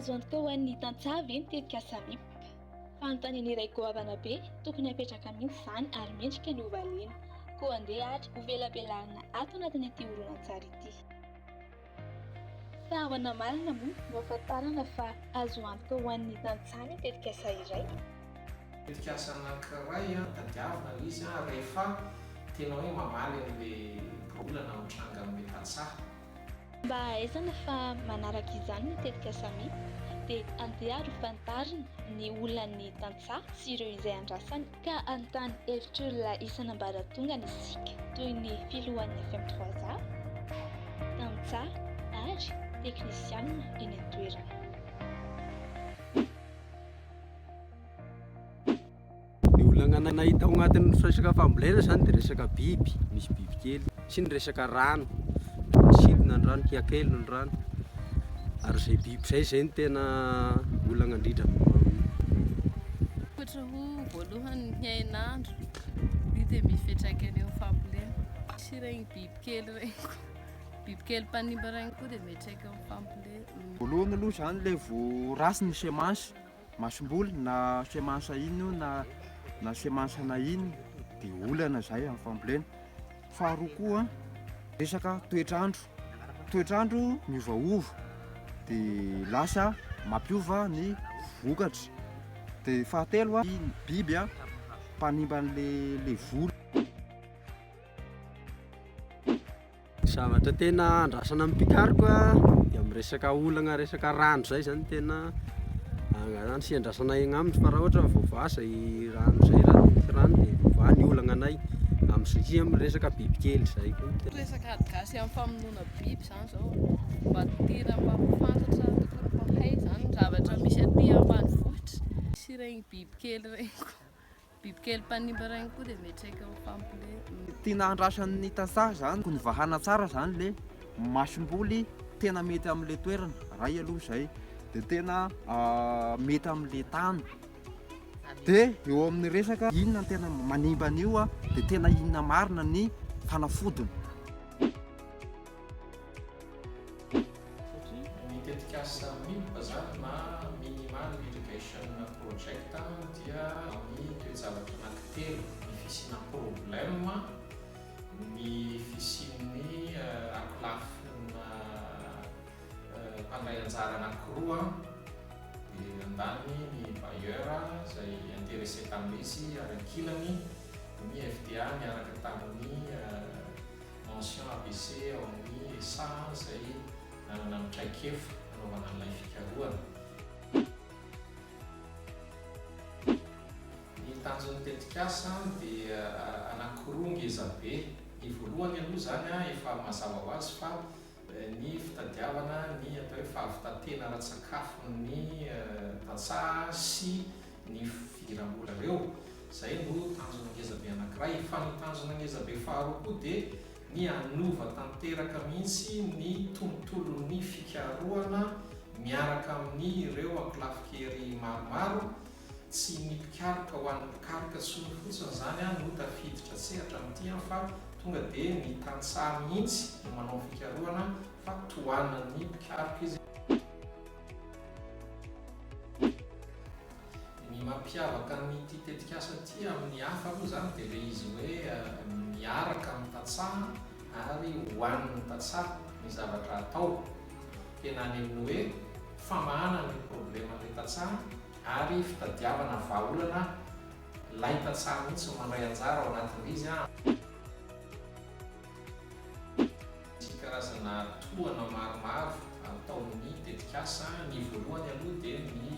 Azo antoka ho an'ny tantsaha ve ny tetikasa MIP? Fanontaniana iray goavana be tokony hapetraka mihitsy izany ary mendrika ny hovaliana. Koa andeha ary hovelabelarina ato anatin'ity horonantsary ity. Fa ahoana marina moa no ahafantarana fa azo antoka ho an'ny tantsaha ny tetikasa iray? Tetikasa anankiray tadiavina ilay izy rehefa tena hoe mamaly an'ilay olana mitranga amin'ilay tantsaha. Mba hahaizana fa manaraka izany ny tetikasa mi, dia andeha ary ho fantarina ny olan'ny tantsaha sy ireo izay andrasany. Ka hanontany hevitr'olona isan'ambaratongany isika, toy ny filohan'ny FMTrois A, tantsaha ary teknisianina eny an-toerana. Ny olana nahita ao anatin'ny resaka fambolena izany dia resaka biby, misy bibikely. sy ny resaka rano sidina ny rano kiakely ny rano ary izay biby izay izay ny tena olana indrindra ohatra ho voalohany ny hainandro io dia mifetraka eny amin'ny fambolena sy regny bibikely regny koa bibikely mpanimba regny koa dia miatraika amin'ny fambolena voalohany aloha izany ilay voarasy ny semansa Masomboly na semensa ino na na semensa na ino de olana zay amin'ny fambolena. Faharoa koa resaka toetr'andro, toetr'andro miovaova de lasa mampiova ny vokatra. De fahatelo a biby a mpanimba an'le le voly. Zavatra tena andrasana amin'ny mpikaroka dia amin'ny resaka olagna resaka rano izay izany no tena angalana sy andrasana egny aminy fa raha ohatra hoe voavaha izay rano izay raha tsy misy rano dia voavaha ny olagnanay amin'ny sy amin'ny resaka bibikely izay koa no tena resaka ady gasy amin'ny famonoana biby izany izao mba tiana mba ho fantatra tokony mpahay izany ny zavatra misy aty ambanivohitra sy ireny bibikely ireny koa Bibikely mpanimba regny koa dia miatraika ho fampilevy. Tiana handrasany ny tantsaha izany koa novahana tsara izany ilay masomboly tena mety amin'ilay toerana, iray aloha izay, dia tena mety amin'ilay tany, dia eo amin'ny resaka inona no tena manimba an'io dia tena inona marina ny fanafodiny. Ny tetikasa Mini Bazar na Minimal Irrigation Project dia amin'ny toe-javatra anankitelo, ny fisiana problema, ny fisian'ny ankolafina mpandray anjara anankiroa, dia andaniny ny bailleur izay interesse tamin'izy ary ankilany ny FDA niaraka tamin'ny. mention ABC ao amin'ny ESA izay nanana ny traikefa nanaovana an'ilay fikarohana. Ny tanjon'ny tetikasa dia anankiroa ngezabe. Ny voalohany aloha izany efa mazava ho azy fa ny fitadiavana ny atao hoe fahavitantena ara-tsakafon'ny tantsaha sy ny fidiram-bola ireo, izay no tanjona ngezabe anankiray, fa ny tanjona ngezabe faharoa koa dia ny hanova tanteraka mihitsy ny tontolon'ny fikarohana miaraka amin'ireo ankolafin-kery maromaro Tsy ny mpikaroka ho an'ny mpikaroka solo fotsiny izany an no tafiditra sehatra amin'ity an fa tonga dia ny tantsaha mihitsy no manao fikarohana fa tohanan'ny mpikaroka izy. Ny mampiavaka an'ity tetikasa ity amin'ny hafa aloha izany dia ilay izy hoe miaraka amin'ny tantsaha ary ho an'ny tantsaha ny zavatra atao. tena any amin'ny hoe famahana ny probleman'ilay tantsaha ary fitadiavana vahaolana lay tantsaha mihitsy no mandray anjara ao anatin'ilay izy an. Misy karazana tohana maromaro ataon'ny tetikasa, ny voalohany aloha dia ny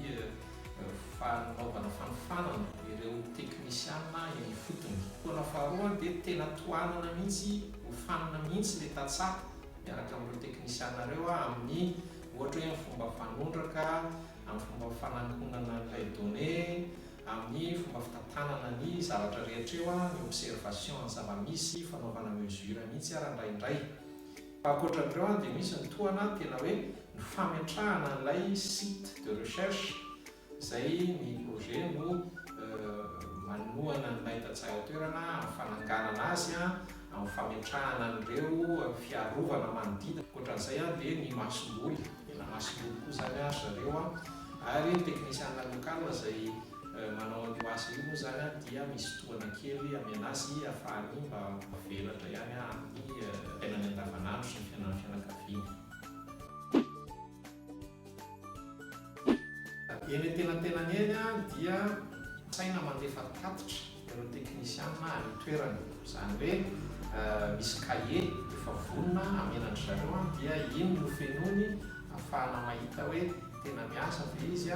fanaovana fanofanana ireo teknisiana eny ifotony, tohana faharoa dia tena tohanana mihitsy, hofanina mihitsy ilay tantsaha. Miaraka amin'ireo teknisianareo aho amin'ny ohatra hoe ny fomba fanondraka, amin'ny fomba fanankonana an'ilay donnée, amin'ny fomba fitantanana ny zavatra rehetra eo, ny observation ny zava-misy, fanaovana mesure mihitsy ary indraindray. Fa ankoatra an'ireo dia misy ny tohana tena hoe ny fametrahana an'ilay site de recherche Izay ny projet no manohana an'ilay tantsaha eo an-toerana amin'ny fananganana azy, amin'ny fametrahana an'ireo fiarovana manodidina. Ankoatran'izay dia ny masomboly, tena masomboly koa izany ry zareo ary ny teknisiana local izay manao an'io asa io moa izany dia misy tohana kely amena azy ahafahany mba mivelatra ihany amin'ny fiainany andavanandro sy ny fiainan'ny fianakaviany. Eny antenantenany eny dia saina mandefa tatitra ireo teknisianina any an-toerana. Izany hoe misy kahie efa vonona hamenan-dry zareo dia iny no fenoiny ahafahana mahita hoe tena miasa ve izy.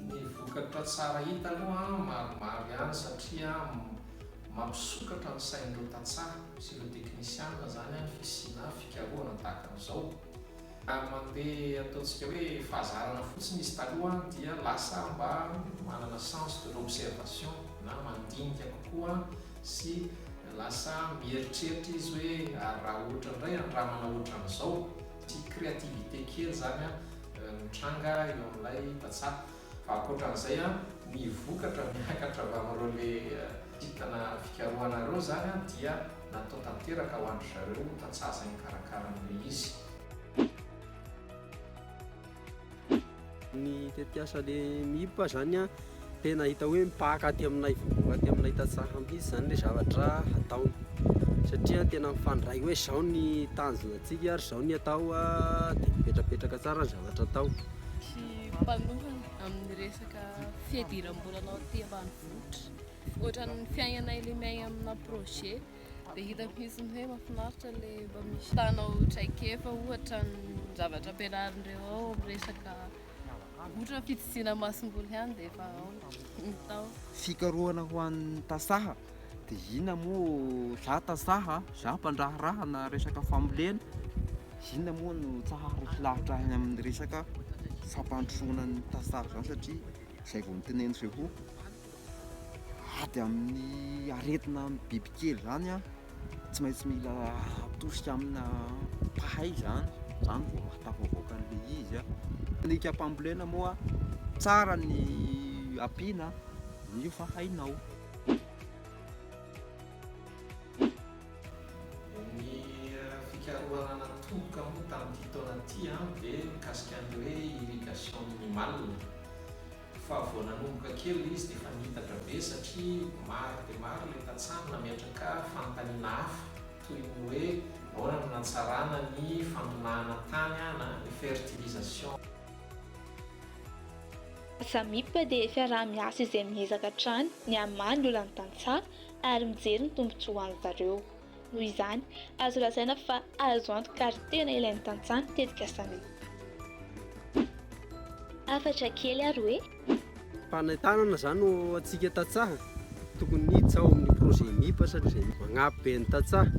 Ny vokatra tsara hita aloha maromaro ihany satria mampisokatra ny sain'ireo tantsaha sy ireo teknisiana izany ny fisiana fikarohana tahaka an'izao. Ary mandeha ataontsika hoe fahazarana fotsiny izy taloha dia lasa mba manana sens de l'observation na mandinika kokoa sy lasa mieritreritra izy hoe ary raha ohatra indray handramana ohatran'izao, Tsy créativité kely izany an no tranga eo amin'ilay vazaha fa ankoatran'izay an ny vokatra miakatra avy amin'ireo le kintana fikarohanareo izany an dia natao tanteraka ho an-dry zareo tantsaha izay nikarakara an'ilay izy. Ny tetiasa le mihiboka zany an, tena hita hoe mipaka aty aminay vovoka aty aminay tantsaha mihintsy zany le zavatra ataony satria tena mifandray hoe zao ny tanjona antsika ary zao ny atao de mipetrapetraka tsara ny zavatra atao. Tsy mpanohana amin'ny resaka fiadiram-bola anao aty ambanivohitra, ohatran'ny fiainanay le miaigna amina projet. Dia hitako mihitsy ny hoe mahafinaritra ilay mba misy tanao traikefa ohatra ny zavatra ampianarin'ireo ao amin'ny resaka ohatra fitsitsiana masomboly ihany dia efa ao ny tao. Fikarohana ho an'ny tasaha dia inona moa za tasaha za mpandraharaha na resaka fambolena inona moa no tsaharako lavitra any amin'ny resaka fampandrosoana ny tasaha izany satria izay vao noteneniko izay koa ady amin'ny aretina amin'ny bibikely izany an, tsy maintsy mila atosika amina mpahay izany, izany vao atao avoaka an'ilay izy an, alika mpambolena moa tsara ny ampiana amin'io fa hainao. Ny fikarohana natomoka moa tamin'ity taona ity dia mikasika ny hoe irrigation minimale. fa vao nanomboka kely ilay izy dia efa nihitatra be satria maro dia maro ilay tantsaha nametraka fanontaniana hafa toy ny hoe ahoana no nahatsarana ny fandonahana tany na ny fertilisation. Samip dia fiaraha-miasa izay miezaka hatrany ny hamaha ny olan'ny tantsaha ary mijery ny tombontsoan-dry zareo. Noho izany, azo lazaina fa azo antoka ary tena ilain'ny tantsaha ny tetikasa. Hafatra kely ary hoe. Fanentanana izany ho antsika tantsaha, tokony hiditra ao amin'ny projet MIPA satria magnampy be ny tantsaha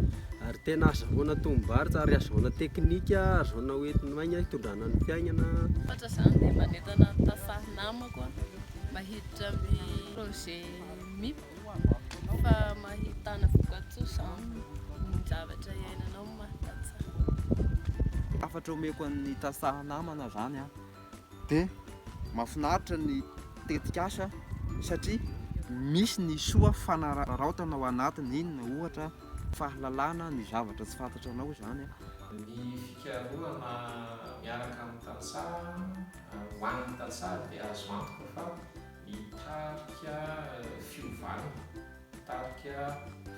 ary tena azahoana tombom-barotra ary azahoana teknika, azahoana ho enti-maina hitondrana ny fiainana. Ankoatra izany dia manentana ny tantsaha namako mba hiditra amin'ny projet MIPA. Fa mahitana vokatsoa zany ny zavatra iainanao no mahatantsaha. Hafatra omeko an'ny tantsaha namana zany an! Dia mahafinaritra ny tetikasa satria misy ny soa fanararaotana ao anatiny, inona ohatra? Fahalalana ny zavatra tsy fantatranao izany an! Ny fikarohana miaraka amin'ny tantsaha ho an'ny tantsaha dia azo antoka fa Hitarika fiovana, hitarika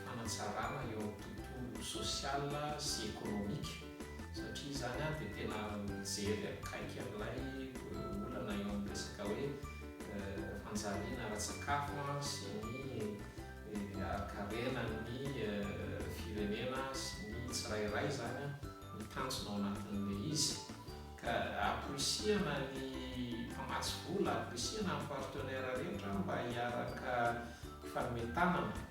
fanatsarana eo amin'ny tontolo sosiala sy ekonomika satria izany dia tena mijery akaiky an'ilay olana eo amin'ny resaka hoe fanjariana ara-tsakafo sy ny harikarenan'ny firenena sy ny tsirairay izany ny tanjona ao anatin'ilay izy. Ka amporisihana ny mpamatsy vola, amporisihana ny partenaires rehetra mba hiaraka hifanome tanana.